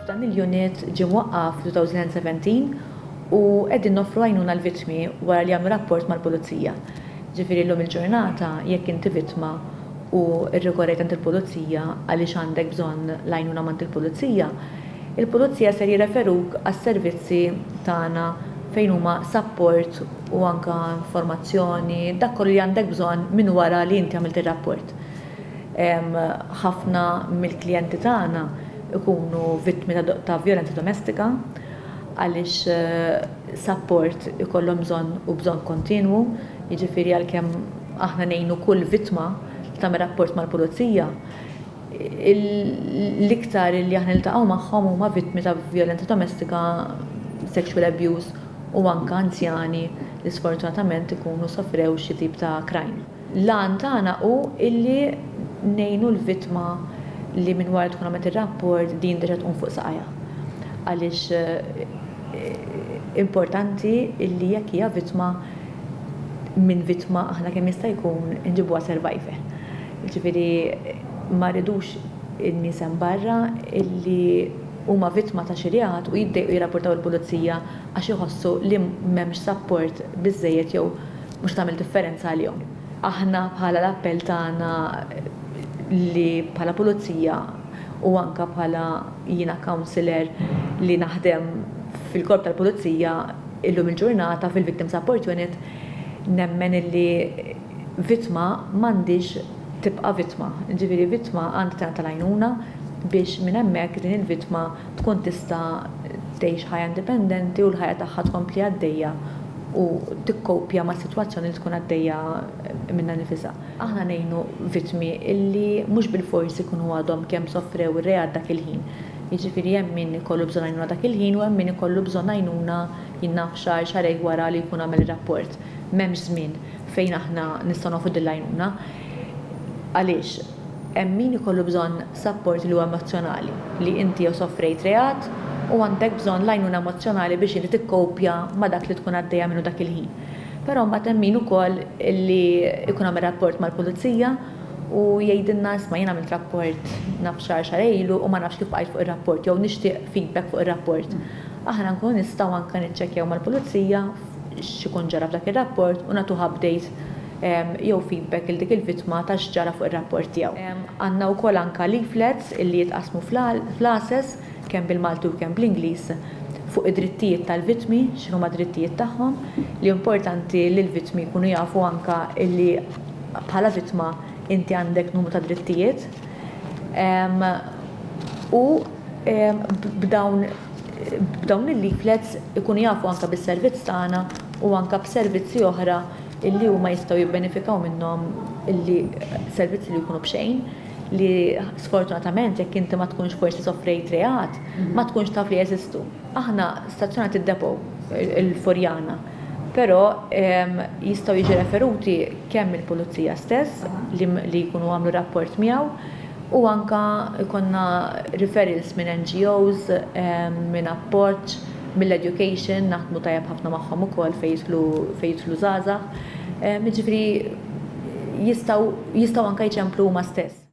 Dan il-unit ġie mwaqqaf fl-2017 u qegħdin noffru għajnuna l-vittmi wara li jagħmlu rapport mal-Pulizija. Ġifieri llum il-ġurnata jekk inti vittma u rrikorrejt għand il-Pulizija għaliex għandek bżonn l-għajnuna m'għand il-Pulizija, il-Pulizija ser jirreferuk għas-servizzi tagħna fejn huma sapport u anke informazzjoni, dak kollu li għandek bżonn minn wara li inti għamilt ir-rapport. Ħafna mill-klijenti tagħna jkunu vittmi ta' vjolenza domestika għaliex sapport ikollhom bżonn u bżonn kontinwu, jiġifieri għalkemm aħna ngħinu kull vittma li tagħmel rapport mal-Pulizija, l-iktar li aħna niltaqgħu magħhom huma vittmi ta' vjolenza domestika, sexual abuse u anke anzjani li sfortunatament ikunu sofrew xi tip ta' crime. L-għan tagħna hu illi ngħinu l-vittma li minn wara tkun għamlet ir-rapport din terġa' tqum fuq saqajha. Għaliex importanti illi jekk hija vittma, minn vittma aħna kemm jista' jkun inġibuha survivor. Jiġifieri ma rridux in-nies hemm barra illi huma vittma ta' xi reat u jiddejqu jirrapportaw il-pulizija għax iħossu li m'hemmx sapport biżżejjed jew Mhux se tagħmel differenza għalihom. Aħna bħala l-appell tagħna li bħala pulizija u anke bħala jiena councillor li naħdem fil-korp tal-pulizija illum il-ġurnata fil-victim support unit nemmen illi vittma m'għandhiex tibqa' vittma. Jiġifieri vittma għandha tingħata l-għajnuna biex minn hemmhekk din il-vittma tkun tista' tgħix ħajja indipendenti u l-ħajja tagħha tkompli għaddejja u tikkopja mas-sitwazzjoni li tkun għaddejja minnha nnifisha. Aħna ngħinu vittmi li mhux bilfors ikunu għadhom kemm sofrew ir-reat dak il-ħin. Jiġifieri hemm min ikollu bżonn għajnuna dak il-ħin u hemm min ikollu bżonn għajnuna, jien naf, xahar, xahrejn wara li jkun għamel ir-rapport. M'hemmx żmien fejn aħna nistgħu nagħtu din l-għajnuna. Għaliex? Hemm min ikollu bżonn sapport li huwa emozzjonali, li inti jew sofrejt reat u għandek bżonn l-għajnuna emozzjonali biex inti tikkopja ma' dak li tkun għaddejja minnu dak il-ħin. Però mbagħad hemm min ukoll li jkun għamel rapport mal-pulizija u jgħidilna isma' jien għamilt rapport naf xahar xahrejn ilu u ma nafx kif bqajt fuq ir-rapport jew nixtieq feedback fuq ir-rapport. Aħna nkunu nistgħu anke niċċekkjaw mal-pulizija x'ikun ġara f'dak ir-rapport u nagħtuh update jew feedback lil dik il-vittma ta' x'ġara fuq ir-rapport tiegħu. Għandna wkoll anke leaflets li jitqassmu f'classes kemm bil-Malti u kemm bl-Ingliż fuq id-drittijiet tal-vittmi, x'inhuma d-drittijiet tagħhom, li hu importanti li l-vittmi jkunu jafu anke li bħala vittma inti għandek numru ta' drittijiet. U b'dawn b'dawn il-leaflets ikunu jafu anke bis-servizz tagħna u anke b'servizzi oħra illi huma jistgħu jibbenefikaw minnhom illi servizzi li jkunu b'xejn li sfortunatament jekk inti ma tkunx forsi soffrejt reat ma tkunx taf li jeżistu. Aħna stazzjonat id-depot il-Furjana però jistgħu jiġi referuti kemm mill-Pulizija stess li jkunu għamlu rapport miegħu u anke jkollna referrals minn NGOs, minn appoġġ, mill-education naħdmu tajjeb ħafna magħhom ukoll fejn jidħlu fejn jidħlu żgħażagħ. Jiġifieri jistgħu jistgħu anke jċemplu huma stess.